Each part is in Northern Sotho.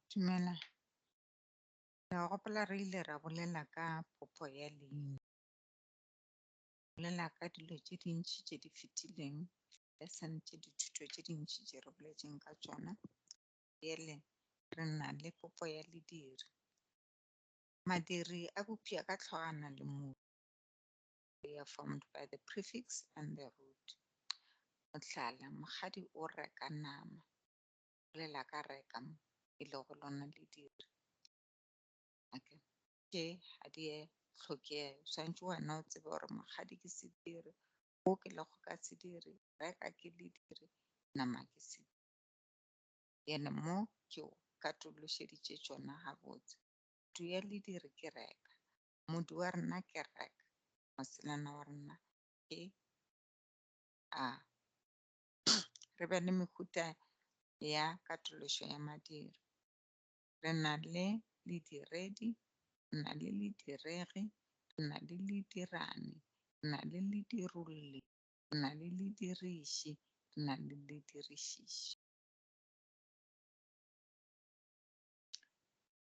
Dumela. Ke a gopola re ile ra bolela ka popho ya leina. Bolela ka dilo tše dintši tše di fetileng le sentše dithuto tše dintši tše re boletšeng ka tšona. Bjale re na le popho ya lediri. Madiri a bopša ka tlhogwana le motho. They are formed by the prefix and the root. Mohlala, mokgadi o reka nama, bolela ka reka mo e lego lona le dire. Okay. Tše ga di e tlhokege, swantšwe wena o tsebe gore mokgadi ke sediri, o ke lego ka sediri, reka ke lediri, nama ke sediri. Yene mo ke katološeditše tšona gabotse. Kutu ya lediri ke reka, Modu wa rena ke Rek, moselana wa rena ke A. Re be le mehuta ya katološo ya madiro. Re na le lediredi, re na le lediregi, re na le ledirani, re na le ledirolli, re na le lediriši, re na le ledirišiši.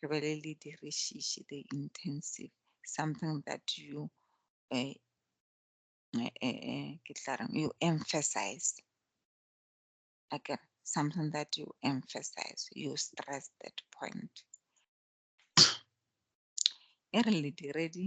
re be le le dirišiši the intensive something that you uh, uh, uh, you emphasize okay something that you emphasize you stress that point e re le diredi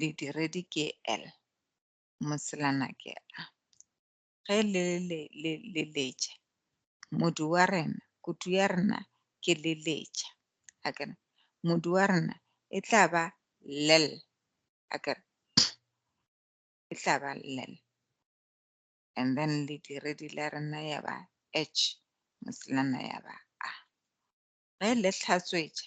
didiredi ke L, moselana ke A. Ge le le le le letša, modu wa rena, kutu ya rena ke le letša. A ke modu wa rena e tla ba lel. A ke e tla ba lel. And then le diredi la rena ya ba H, moselana ya ba A. Ge le hlatswetša,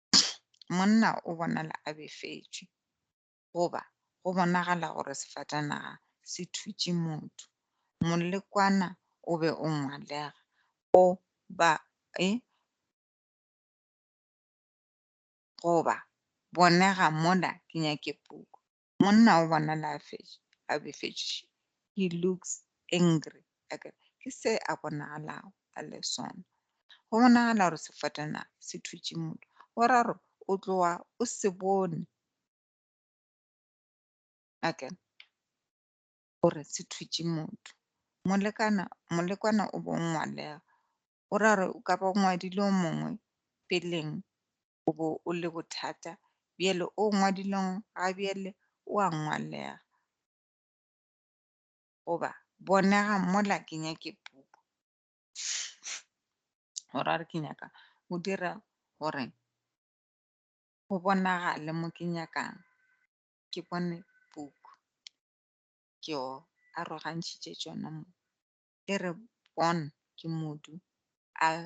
monna o bonala a befetšwe goba go bonagala gore sefatanaga se thutše motho. Molekwana o be o ngwalega go ba e goba bonega mola ke nyake puku. Monna o bonala a fetše, a befetše. He looks angry. Eke ke se a bonagalago a le sona. Go bonagala gore sefatanaga se thutše motho. Go ra gore o tloga o se bone eke gore se thutše motho. Molekana, molekwana o bongwalega O ra gore o ka ba o ngwadile o mongwe peleng o bo o le bothata bjale o ngwadileng ga bjale o a ngwalega goba bonega mola ke nyake puku o ra gore ke nyaka o dira gore go bonagale mo ke nyakang ke bone puku ke o arogantšhitše tšona mo e re Bon ke modu, Al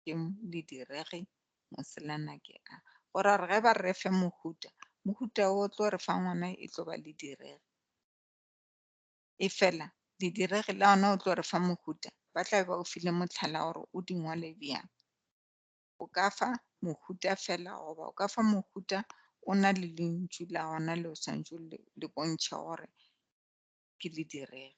ke lidiregi, Moselana ke a. Go ra gore ge ba re fe mohuta, mohuta o tlo re fa ngwana e tlo ba lidiregi. E fela lidiregi la ona o tlo re fa mohuta, ba tla be ba o file motlhala gore o di ngwale bjang. O ka fa mohuta fela goba o ka fa mohuta o na le lentšu la ona le o swantšwe le bontšhe gore ke lidiregi.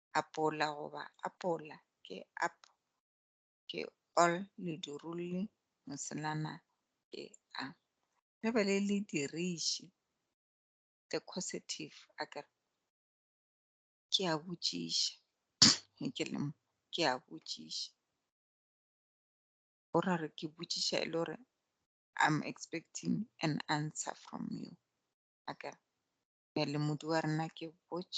apola goba apola ke ap ke all ledurulli moselana ke a le be le le diriše the causative a ke re ke a botšiša ge ke le mo ke a botšiša o ra re ke botšiša e le gore i'm expecting an answer from you a ke re le modi wa rena ke botš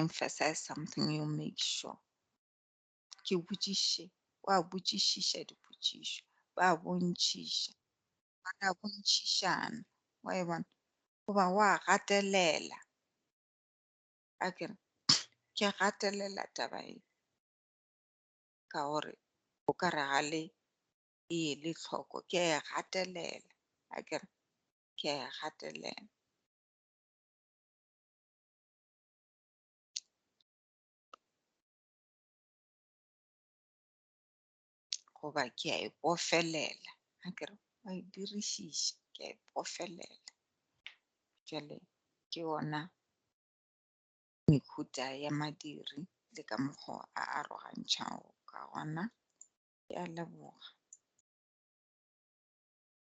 emphasize something you make sure ke botšiše wa botšišiša dipotšišo ba bontšhiša ba ka bontšhišana wa e bona goba wa gatelela a ke re ke gatelela taba e ka gore o ka re ga le e ele tlhoko ke e gatelela a ke re ke e gatelela goba ke a e pofelela a kere wa e dirišiša ke a e pofelela jale ke ona mehuta ya madiri le ka mokgwa a arogantšhago ka gona ya leboga